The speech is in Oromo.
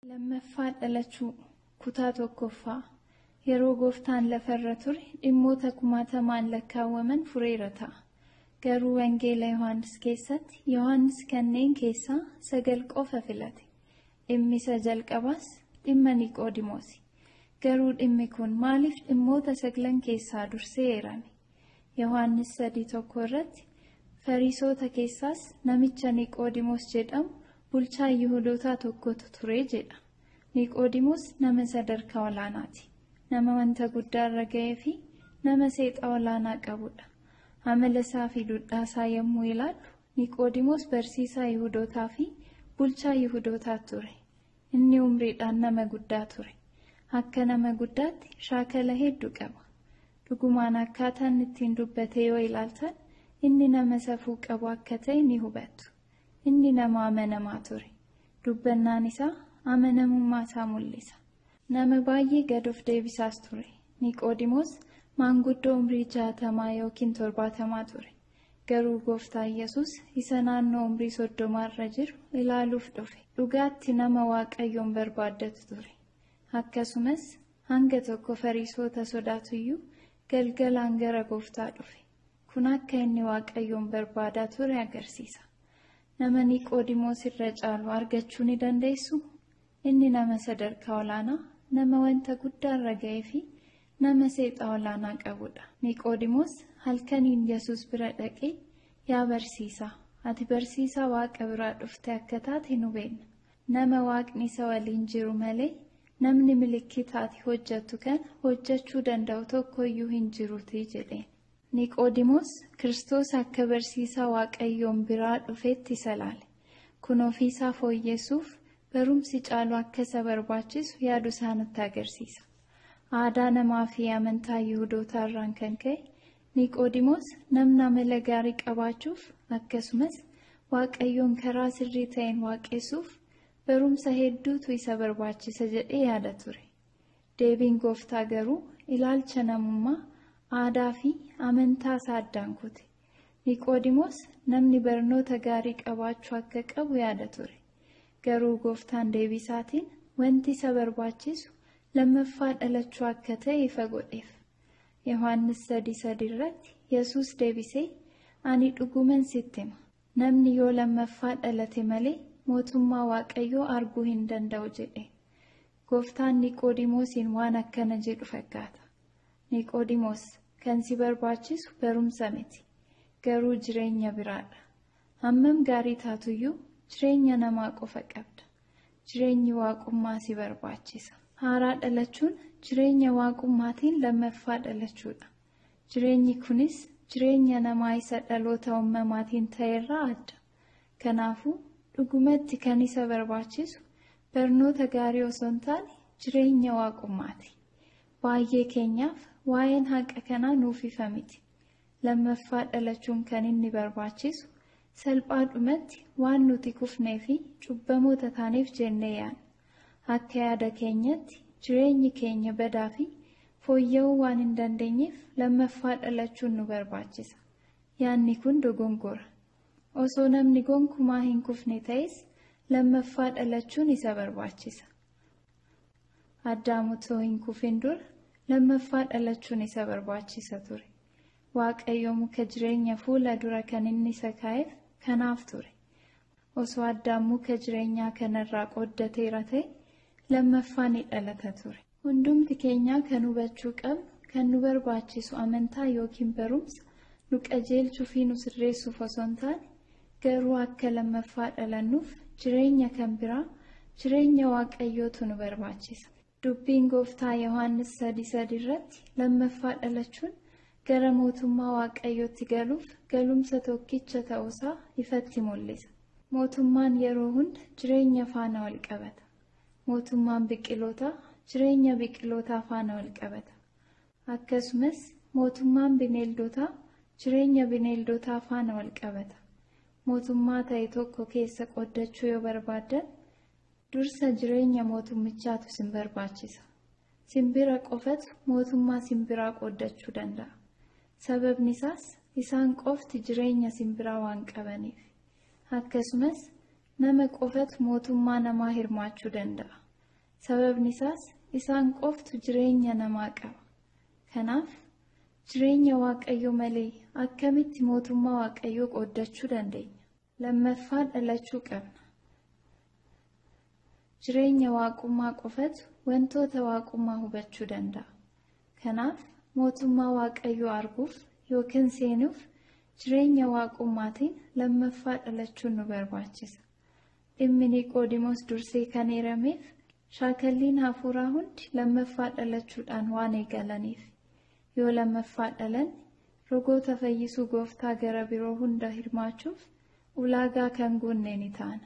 Lammaffaa dhalachuu kutaa tokkoffaa yeroo gooftaan lafarra ture dhimmoota kumaatamaan lakkaawwaman fureera ta'a. Garuu Wangeela Yohaannis keessatti Yohaannis kanneen keessaa sagal qofa filate. Dhimmi isa jalqabaas dhimma Niqoodimoosi. Garuu dhimmi kun maaliif dhimmoota saglan keessaa dursee eerame? Yohaannis 3:1 irratti Fariisoota keessaas namicha Niqoodimoos jedhamu bulchaa Yihudootaa tokkotu ture jedha. Niqoodimoos nama sadarkaa olaanaati. Nama wanta guddaa irra ga'ee fi nama seexa olaanaa qabudha. Amala isaa fi dudhaa isaa yommuu ilaallu Niqoodimoos barsiisaa Yihudootaa fi bulchaa Yihudootaa ture. Inni umriidhaan nama guddaa ture. Akka nama guddaatti shaakala hedduu qaba. Dhugumaan akkaataa inni ittiin dubbate yoo ilaaltan inni nama safuu qabu akka ta'e ni hubattu. Inni nama amanamaa ture. Dubbannaan isaa amanamummaa isaa mul'isa. Nama baay'ee gad of deebisaas ture. Niqoodimoos maanguddoo umrii jaatamaa yookiin torbaatamaa ture. Garuu Gooftaa Yesuus isa naannoo umrii soddomaa irra jiru ilaaluuf dhufe. Dhugaatti nama Waaqayyoon barbaaddatu ture. Akkasumas hanga tokko Fariisoota sodaatuyyuu galgalaan gara Gooftaa dhufe. Kun akka inni Waaqayyoon barbaadaa ture agarsiisa. Nama Niqoodimoos irra caalu argachuu ni dandeessuu? Inni nama sadarkaa olaanaa, nama wanta guddaa irra ga'ee fi nama seexaa olaanaa qabu dha. Niqoodimoos halkaniin Yesuus bira dhaqee, Yaa barsiisaa, ati barsiisaa Waaqa biraa dhufte akka taate nu beekna. Nama Waaqni isa waliin jiru malee, namni milikkita ati hojjettu kana hojjechuu danda'u tokko iyyuu hin jiruutii jedheen. Niqoodimoos Kiristoos akka barsiisaa Waaqayyoon biraa dhufeetti isa ilaale. Kun ofii isaa fooyyesuuf Barumsi caalu akka isa barbaachisu yaadu isaa nutti agarsiisa. Aadaa namaa fi amantaa Yihudootaa irraan kan ka'e Niqoodimoos namni amala gaarii qabaachuuf akkasumas Waaqayyoon karaa sirrii ta'een waaqessuuf barumsa hedduutu isa barbaachisa jedhee yaada ture. Deebiin gooftaa garuu ilaalcha namummaa, aadaa fi amantaa isaa addaan kute. Niqoodimoos namni barnoota gaarii qabaachuu akka qabu yaada ture. Garuu Gooftaan deebii isaatiin wanti isa barbaachisu lammaffaa dhalachuu akka ta'e ifa godheef. Yohaannis 3:3 irratti Yesuus deebisee, Ani dhuguman sitti hima, namni yoo lammaffaa dhalate malee mootummaa Waaqayyoo arguu hin danda'u jedhe. Gooftaan Niqoodimoosiin waan akkana jedhu fakkaata. Niqoodimoos, kan si barbaachisu barumsa miti, garuu jireenya biraadha. Hammam gaarii taatuyyuu jireenya namaa qofa qabda. Jireenyi Waaqummaa si barbaachisa. Haaraa dhalachuun jireenya Waaqummaatiin lammaffaa dhalachuudha. Jireenyi kunis jireenya namaa isa dhaloota uumamaatiin ta'erraa adda. Kanaafuu, dhugumatti kan isa barbaachisu barnoota gaarii osoo hin taane jireenya waaqummaati. Baay'ee keenyaaf waa'een haqa kanaa nuuf ifa miti. Lammaffaa dhalachuun kan inni barbaachisu salphaadhumatti waan nuti kufnee fi cubbamoota taaneef jennee yaadna. Akka yaada keenyatti jireenyi keenya badaa fi fooyya'uu waan hin dandeenyeef lammaffaa dhalachuun nu barbaachisa. Yaadni kun dogongora. Osoo namni gonkumaa hin kufne ta'es lammaffaa dhalachuun isa barbaachisa. Addaam otoo hin kufin dura lammaffaa dhalachuun isa barbaachisa ture. Waaqayyo muka jireenya fuula dura kan inni isa kaa'eef kanaaf ture. Osoo Addaam muka jireenyaa kanarraa qooddateera ta'e lammaffaa ni dhalata ture. Hundumti keenyaa kan hubachuu qabnu, kan nu barbaachisu amantaa ykn barumsa nu qajeelchuu fi nu sirreessuuf osoo hin taane, garuu akka lammaffaa dhalannuuf jireenya kan biraa, jireenya Waaqayyootu nu barbaachisa. Dubbiin Gooftaa Yohaannis 3:3 irratti lammaffaa dhalachuun gara mootummaa Waaqayyootti galuuf galumsa tokkicha ta'uusaa ifatti mul'isa. Mootummaan yeroo hunda jireenya faana wal qabata. Mootummaan biqilootaa jireenya biqilootaa faana walqabata. Akkasumas mootummaan bineeldotaa jireenya bineeldotaa faana walqabata. Mootummaa ta'e tokko keessa qoddachuu yoo barbaaddan dursa jireenya mootummichaatu sin barbaachisa. Simbira qofatu mootummaa simbiraa qoddachuu danda'a. Sababni isaas isaan qofti jireenya simbiraa waan qabaniif. Akkasumas Nama qofatu mootummaa namaa hirmaachuu danda'a. Sababni isaas isaan qoftu jireenya namaa qaba. Kanaaf jireenya Waaqayyoo malee akkamitti mootummaa Waaqayyoo qooddachuu dandeenya? Lammaffaa dhalachuu qabna. Jireenya Waaqummaa qofatu wantoota Waaqummaa hubachuu danda'a. Kanaaf, Mootummaa Waaqayyoo arguuf yookiin seenuuf jireenya Waaqummaatiin lammaffaa dhalachuun nu barbaachisa. Dhimmi Niqoodimoos dursee kan eerameef, shaakalliin hafuuraa hundi lammaffaa dhalachuudhaan waan eegalaniifi. Yoo lammaffaa dhalanne, rogoota fayyisuu Gooftaa gara biroo hunda hirmaachuuf ulaagaa kan guunne ni taana.